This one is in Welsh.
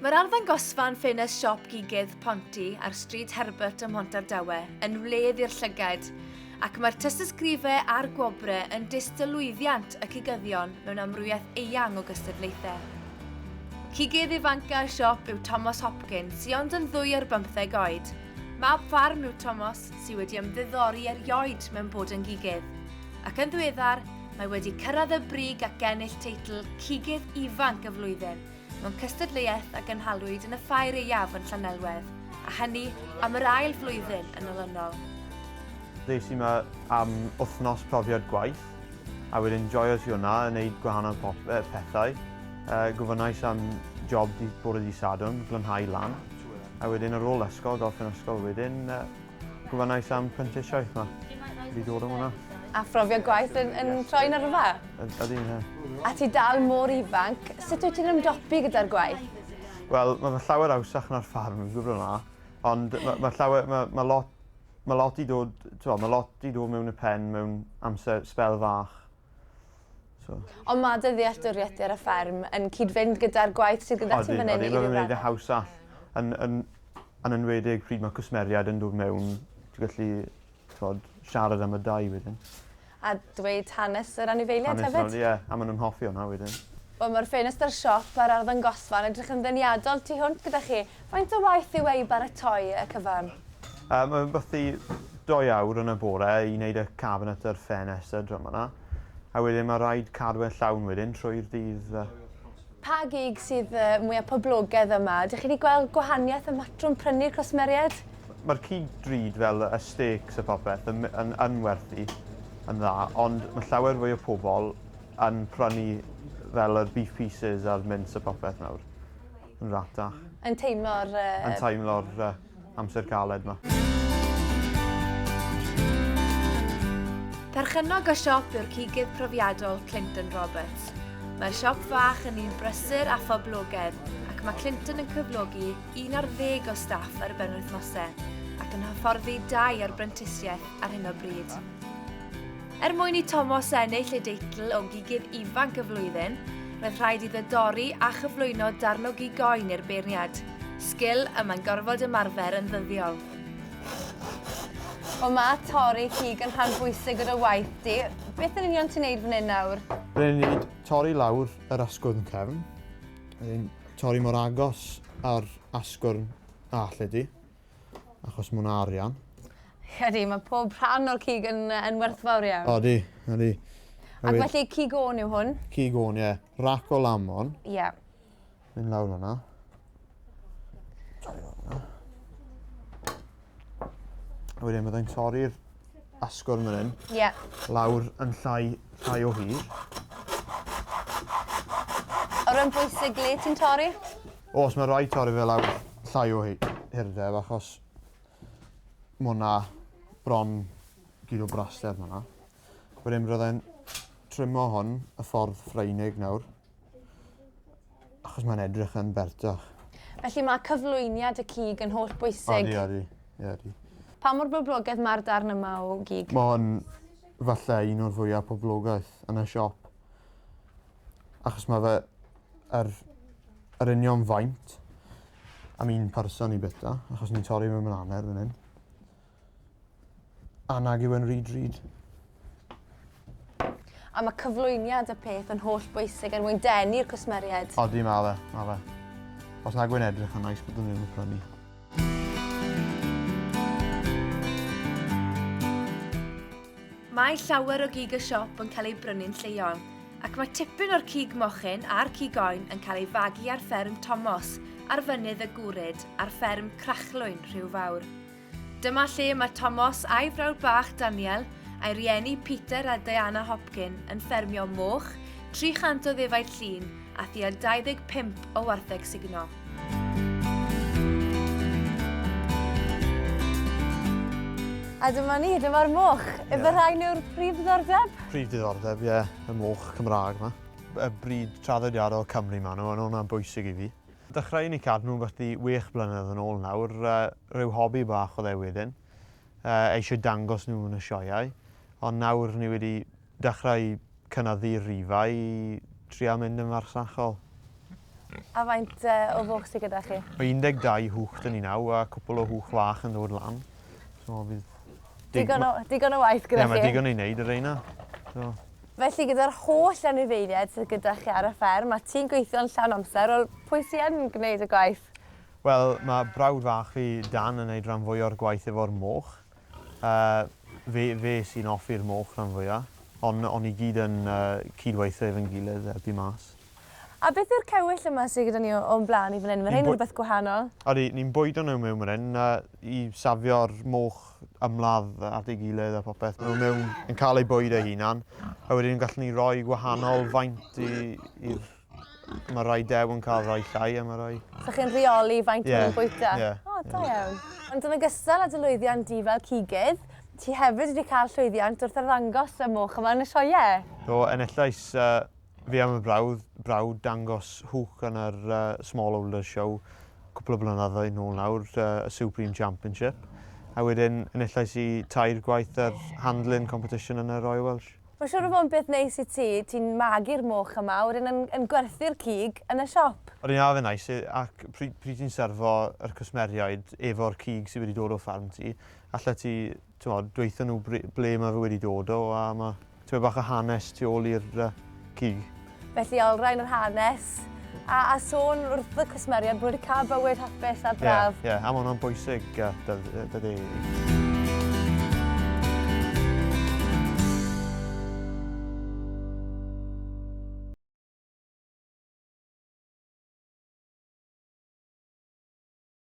Mae'r arddangosfa yn ffenest siop gigydd Ponty ar Stryd Herbert ym Mhontardawe yn wledd i'r llygaid, ac mae'r tystysgrifau a'r gwobrau yn dyst o lwyddiant y cigyddion mewn amrywiaeth eang o gystadlaethau. Cigydd ifanc y siop yw Tomos Hopkins, sy ond yn ddwy ar bymtheg oed. Mab ffarm yw Tomos, sydd wedi ymddiddori erioed mewn bod yn gigydd, ac yn ddiweddar, Mae wedi cyrraedd y brig ac ennill teitl Cigydd Ifanc y Flwyddyn mewn cystadleuaeth a gynhalwyd yn y Ffair Iaf yn Llanelwedd, a hynny am yr ail flwyddyn yn olynol. Ddes i yma am wythnos profiad gwaith a wedyn joios i hwnna yn neud gwahanol pethau. Gofynnais am job bore dydd Sadwrn, glanhau lan, a wedyn ar ôl ysgol, gorffen ysgol wedyn, Gofynnais am prentisiaeth ma. Fi dod am hwnna. A phrofio gwaith yn, yn troi'n yrfa? Ydy, ie. A ti dal mor ifanc, sut wyt ti'n ymdopi gyda'r gwaith? Wel, mae fe llawer awsach na'r ffarm, fi'n gwybod hwnna. Ond mae ma llawer, mae ma lot, ma lot i dod, mae lot i dod mewn y pen mewn amser sbel fach. So. Ond mae dy ddealltwriaeth di ar y fferm yn cyd-fynd gyda'r gwaith sydd gyda ti fan hyn i ryw radde? Mae'n ei haws all. Yn, yn, yn enwedig pryd mae cwsmeriaid yn dod mewn, ti'n gallu tod, siarad am y dau wedyn. A dweud hanes yr anifeiliaid hefyd? Hanes, ie, a maen nhw'n Faint o waith yw e i baratoi y cyfan? Yy mae'n bwthi dou awr yn y bore i wneud y cabinet a'r ffenest a drum yna. A wedyn mae rhaid cadw e'n llawn wedyn trwy'r dydd. Pa gig sydd mwya poblogedd yma? Dych chi 'di gweld gwahaniaeth ym mhatrwm prynu'r cwsmeriaid? Mae'r cig drud fel y stêcs a phopeth yn yn yn werthu yn dda ond mae llawer fwy o pobl yn prynu fel yr beef pieces a'r mince a phopeth nawr. Yn rhatach. Yn teimlo'r yy... Yn teimlo'r yy amser caled 'ma. Perchennog y siop yw'r cigydd profiadol Clinton Roberts. Mae'r siop fach yn un brysur a phoblogedd ac mae Clinton yn cyflogi un ar ddeg o staff ar y benwythnosau ac yn hyfforddi dau ar brentisiaeth ar hyn o bryd. Er mwyn i Tomos ennill y deitl o gigydd ifanc y flwyddyn, roedd rhaid iddo dorri a chyflwyno darn o gig oen i'r beirniad, sgil y mae'n gorfod ymarfer yn ddyddiol. O mae torri cig yn rhan bwysig o dy waith di. Beth yn union ti'n neud fan hyn nawr? Rydyn ni'n neud torri lawr yr asgwrn cefn. Rydyn ni'n torri mor agos a'r asgwrn a allet ti. achos mae hwnna arian. Ydy, mae pob rhan o'r cig yn, uh, yn werthfawr iawn. Odi, odi. Ac Hefyd- felly cig o'n yw hwn. Cig o'n, ie. Rac o lamon. Ie. Yeah. Mynd lawr hwnna. Torri hwnna. A wedyn byddai'n torri'r asgwrn fan hyn. Ie. Yeah. Lawr yn llai, llai o hir. O ran bwysig le ti'n torri? Os ma raid torri fe lawr llai o hy- hurdeb achos ma' wnna bron kilo braster ma' 'na. Wedyn bydda fe'n trimo hwn y ffordd Ffreunig nawr achos mae'n edrych yn bertach. Felly ma' cyflwyniad y cig yn holl bwysig. Odi odi. Ie odi. Pa mor boblogedd ma'r darn yma o gig? Ma' hwn falle un o'r fwya poblogaeth yn y siop. achos ma' fe yr yr union faint am un person i bita achos ni'n torri fe myn 'na a ner fan 'yn. A nag yw e'n ry drud. A ma' cyflwyniad y peth yn holl bwysig er mwyn denu'r cwsmeriaid. Odi ma' fe ma' fe. Os nag wy'n edrych yn neis bydden i ddim yn prynu. Mae llawer o gig y siop yn cael ei brynu'n lleol, ac mae tipyn o'r cig mochyn a'r cig oen yn cael ei fagu ar fferm Tomos ar fynydd y Gwryd ar fferm Crachlwyn, Rhiw Fawr. Dyma lle mae Tomos a'i frawd bach Daniel, a'i rieni Peter a Diana Hopkin yn ffermio moch 300 o ddefaid llun a thua 25 o wartheg sugno. A dyma ni, dyma'r moch. Yeah. Efe rhain yw'r prif ddiddordeb? Prif ddiddordeb, ie, yeah, y moch Cymraeg yma. Y bryd traddodiadol Cymru maen nhw, ond hwnna'n bwysig i fi. Dechrau i ni cadw nhw beth i wych blynedd yn ôl nawr, uh, rhyw hobi bach o dde wedyn, uh, eisiau dangos nhw yn y sioeau, ond nawr ni wedi dechrau cynyddu rhifau i trial mynd yn farsachol. A faint o fuwch sydd gyda chi? Mae 12 hwch dyn ni naw a cwpl o hwch fach yn dod lan. So bydd... Digon o, digon o waith gyda chi? Ie, mae digon ei wneud y reina. So. Felly gyda'r holl anifeiliaid sydd gyda chi ar y fferm a ti'n gweithio'n llawn amser, wel, pwy sy'n yn gwneud y gwaith? Wel, mae brawd fach fi, Dan, yn wneud rhan fwy o'r gwaith efo'r moch. Yy, fe sy'n offi'r moch rhan fwya. Ond o'n ni gyd yn cyd-weithio efo'n gilydd helpu mas. A beth yw'r cewyll yma sy gyda ni o'n blaen ni fan hyn? Mae rhein yn rhywbeth gwahanol. Ydi, ni'n bwydo nhw mewn fan hyn i safio'r moch ymladd at ei gilydd a popeth. Mae nhw mewn yn cael eu bwyd eu hunan a wedyn gallwn ni roi gwahanol faint i'r Mae rhai dew yn cael rhai llai a mae rhai... So chi'n rheoli faint yeah. nhw'n bwyta? Ie. Yeah. O, da iawn. Ond yn ogystal â dy lwyddiant di fel cigydd, ti hefyd wedi cael llwyddiant wrth arddangos y moch yma yn y sioe. Do, enillais uh, fi am y brawd, brawd dangos hwch yn yr uh, Small Older Show cwpl o blynyddoedd nôl nawr, uh, y Supreme Championship. A wedyn enillais i tair gwaith yr handling competition yn y Royal Welsh. Mae'n siŵr o fod yn beth neis i ti, ti'n magu'r moch yma, a wedyn yn gwerthu'r cig yn y siop. Yr un arall yn neis, ac pryd ti'n serfo yr cwsmeriaid efo'r cig sydd wedi dod o ffarm ti, allet ti dweutho nhw ble mae fe wedi dod o, a mae tipyn bach o hanes tu ôl i'r cig. Felly olrhain yr hanes a, a sôn wrth y cwsmeriaid bod wedi cael bywyd hapus a braf. Ie, yeah, yeah, a mae hwnna'n bwysig dydy.